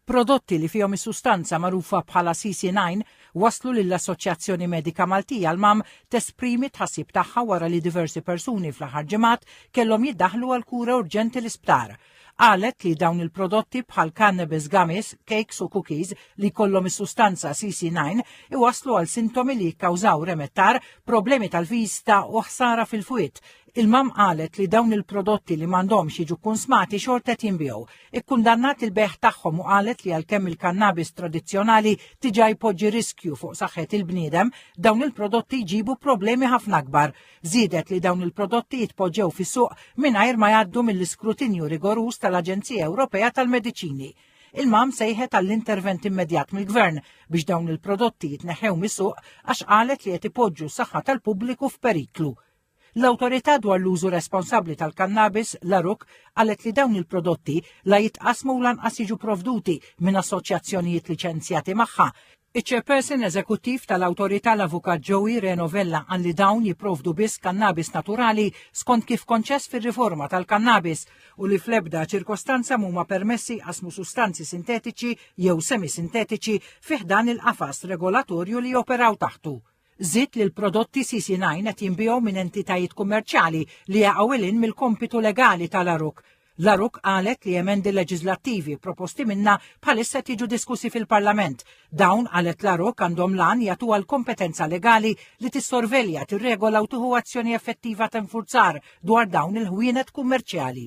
Prodotti li fihom is-sustanza magħrufa bħala CC9 waslu lill-Assoċjazzjoni Medika Maltija l-MAM tesprimi tħassib tagħha wara li diversi persuni fl-aħħar ġimgħat kellhom jiddaħlu għal kura urġenti l-isptar qalet li dawn il-prodotti bħal cannabis gummies, cakes u cookies li kollhom is-sustanza CC9 iwaslu għal sintomi li jikkawżaw remettar, problemi tal-vista u ħsara fil-fwiet, Il-MAM qalet li dawn il-prodotti li m'għandhomx jiġu kkunsmati xorta qed jinbiegħu. Ikkundannat il-bejgħ tagħhom u qalet li għalkemm il-kannabis tradizzjonali diġà jpoġġi riskju fuq saħħet il-bniedem, dawn il-prodotti jġibu problemi ħafna akbar. Żiedet li dawn il-prodotti jitpoġġew fis-suq mingħajr ma jgħaddu mill-iskrutinju rigoruż tal-Aġenzija Ewropea tal-Mediċini. Il-MAM sejħet għall-intervent immedjat mill-Gvern biex dawn il-prodotti jitneħħew mis-suq għax qalet li qed ipoġġu s-saħħa tal-pubbliku f'periklu. L-Awtorità dwar l-Użu Responsabbli tal-Kannabis, l-ARUC, qalet li dawn il-prodotti la jitqassmu u lanqas jiġu provduti minn assoċjazzjonijiet liċenzjati magħha. Iċ-Chairperson Eżekuttiv tal-Awtorità l-Avukat Joey Reno Vella qal li dawn jipprovdu biss kannabis naturali skont kif konċess fir-riforma tal-kannabis u li fl-ebda ċirkostanza mhuma permessi jqassmu sustanzi sintetiċi jew semisintetiċi fi ħdan il-qafas regolatorju li joperaw taħtu. Żied li l-prodotti CC9 qed jinbiegħu minn entitajiet kummerċjali li jaqgħu lil mill-kompitu legali tal-Aruk. L-Aruk qalet li emendi leġiżlattivi proposti minnha bħalissa qed jiġu diskussi fil-Parlament. Dawn qalet l-Aruk għandhom lan jagħtuha l-kompetenza legali li tissorvelja, tirregola u tieħu azzjoni effettiva ta' infurzar dwar dawn il-ħwienet kummerċjali.